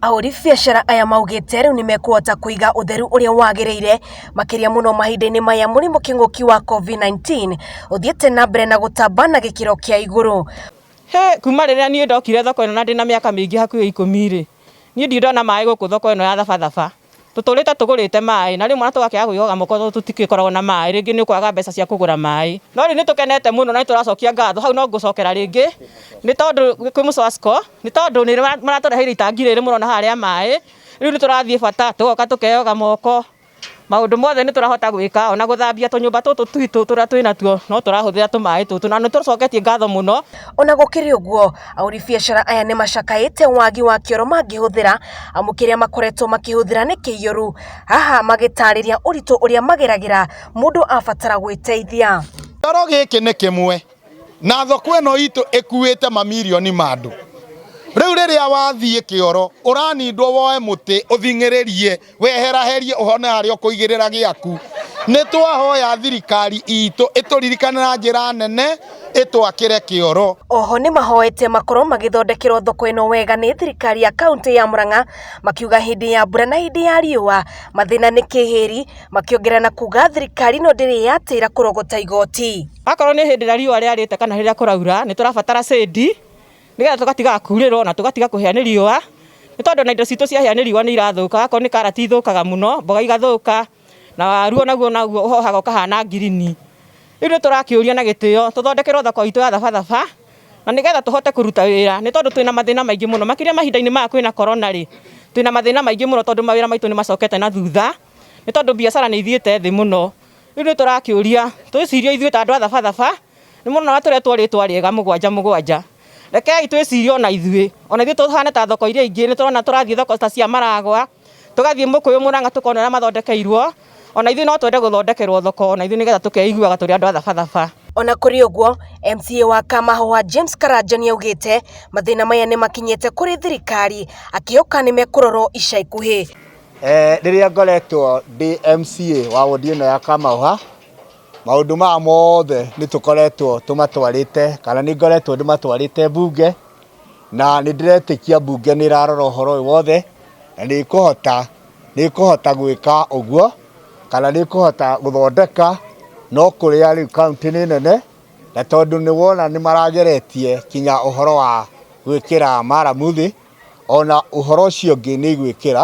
Ahũri biacara aya maugĩte rĩu nĩmekũhota kũiga ũtheru ũrĩa wagĩrĩire makĩria mũno mahinda-inĩ maya mũrimũ kĩng'ũki wa COVID-19 ũthiĩte na mbere na gũtamba na gĩkĩro kĩa igũrũ. Hĩ! Kuma rĩrĩa niĩ ndokire thoko ĩno na ndĩna mĩaka mĩingĩ hakuhĩ ikũmi-rĩ, niĩ ndirĩ ndona maĩ gũkũ thoko ĩno ya Thabathaba. Tũtũrĩte tũgũrĩte maĩ na rĩu mwana tũgakĩaga kwĩyoga moko tondũ tũtigĩkoragwo na maĩ, rĩngĩ nĩ ũkwaga mbeca cia kũgũra maĩ. No rĩu nĩ tũkenete mũno na nĩ tũracokia ngatho, hau no ngũcokera rĩngĩ nĩ tondũ kwĩ Mucoasco nĩ tondũ nĩ maratũreheire itangi rĩrĩ mũrona haha rĩa maĩ, rĩu nĩ tũrathiĩ bata tũgoka tũkeyoga moko, maũndũ mothe nĩ tũrahota gwĩka ona gũthambia tũnyũmba tũtũ twitũ tũrĩa twĩnatuo no tũrahũthĩra tũmaĩ tũtũ na nĩ tũcoketie ngatho mũno. Ona gũkĩrĩ ũguo, ahũri biacara aya nĩ macakaĩte wagi wa kĩoro mangĩhũthĩra amu kĩrĩa makoretwo makĩhũthĩra nĩ kĩiyũru. Haha magĩtarĩria ũritũ ũrĩa mageragĩra mũndũ abatara gwĩteithia. Kĩoro gĩkĩ nĩ kĩmwe na thoko ĩno itũ ĩkuĩte mamirioni ma andũ. Rĩu rĩrĩa wathiĩ kĩoro ũranindwo woe mũtĩ ũthing'ĩrĩrie. weheraherie ũhone harĩa ũkũigĩrĩra gĩaku nĩ twahoya thirikari itũ ĩtũririkane na njĩra nene ĩtwakĩre kĩoro Oho nĩ mahoete makorwo magĩthondekerwo thoko ĩno wega nĩ thirikari ya kaunti ya Murang'a makiuga hĩndĩ ya mbura na hĩndĩ ya riũa mathĩna nĩ kĩhĩri makĩongerera na kuga thirikari ĩno ndĩrĩ yatĩra kũrogota igoti. Akorwo nĩ hĩndĩ ĩrĩa riũa rĩarĩte kana hĩndĩ ĩrĩa kũraura nĩ tũrabatara shade. nĩgetha tũgatigaga kurĩrwo na tũgatiga kũhĩa nĩ riũa nĩ tondũ na indo citũ ciahĩa nĩ riũa nĩ irathũka akorwo nĩ karati ithũkaga mũno mboga igathũka na waru onaguo naguo ũhohaga ũkahana ngirini. Rĩu nĩ tũrakĩũria na gĩtĩo tũthondekerwo thoko itũ ya thabatha na nĩgetha tũhote kũruta wĩra nĩ tondũ twĩna mathĩna maingĩ mũno makĩria mahinda-inĩ maya kwĩna korona rĩ twĩna mathĩna maingĩ mũno tondũ mawĩra maitũ nĩ macokete na thutha nĩ tondũ biacara nĩ ithiĩte thĩ mũno. Rĩu nĩ tũrakĩũria twĩcirie ithuĩ ta andũ a thabatha. Nĩ mũrona watũretwo rĩtwa rĩega mũgwanja mũgwanja. Rekei twĩcirie ona ithuĩ. Ona ithuĩ tũhane ta thoko iria ingĩ. Nĩ tũrona tũrathiĩ thoko ta cia Maragwa, tũgathiĩ Mũkũyũ, Mũrang'a tũkona ũrĩa mathondekeirwo. Ona ithuĩ no twende gũthondekerwo thoko ona ithuĩ nĩgetha tũkeiguaga tũrĩ andũ a thabathaba. Ona kũrĩ ũguo, MCA wa Kamahũa James Karanja nĩaugĩte mathĩna maya nĩmakinyĩte kũrĩ thirikari akĩhoka nĩmekũrorwo ica ikuhĩ. Rĩrĩa ngoretwo ndĩ MCA wa wondi ĩno ya Kamahũa, Maũndũ maya mothe nĩ tũkoretwo tũmatwarĩte kana nĩ ngoretwo ndĩmatwarĩte mbunge na nĩ ndĩretĩkia mbunge nĩ ĩrarora ũhoro ũyũ wothe na nĩ ĩkũhota nĩ ĩkũhota gwĩka ũguo kana nĩ ĩkũhota gũthondeka no kũrĩa rĩu kaunti nĩ nene na tondũ nĩ wona nĩ marageretie kinya ũhoro wa gwĩkĩra maramu thĩ ona ũhoro ũcio ũngĩ nĩ igwĩkĩra.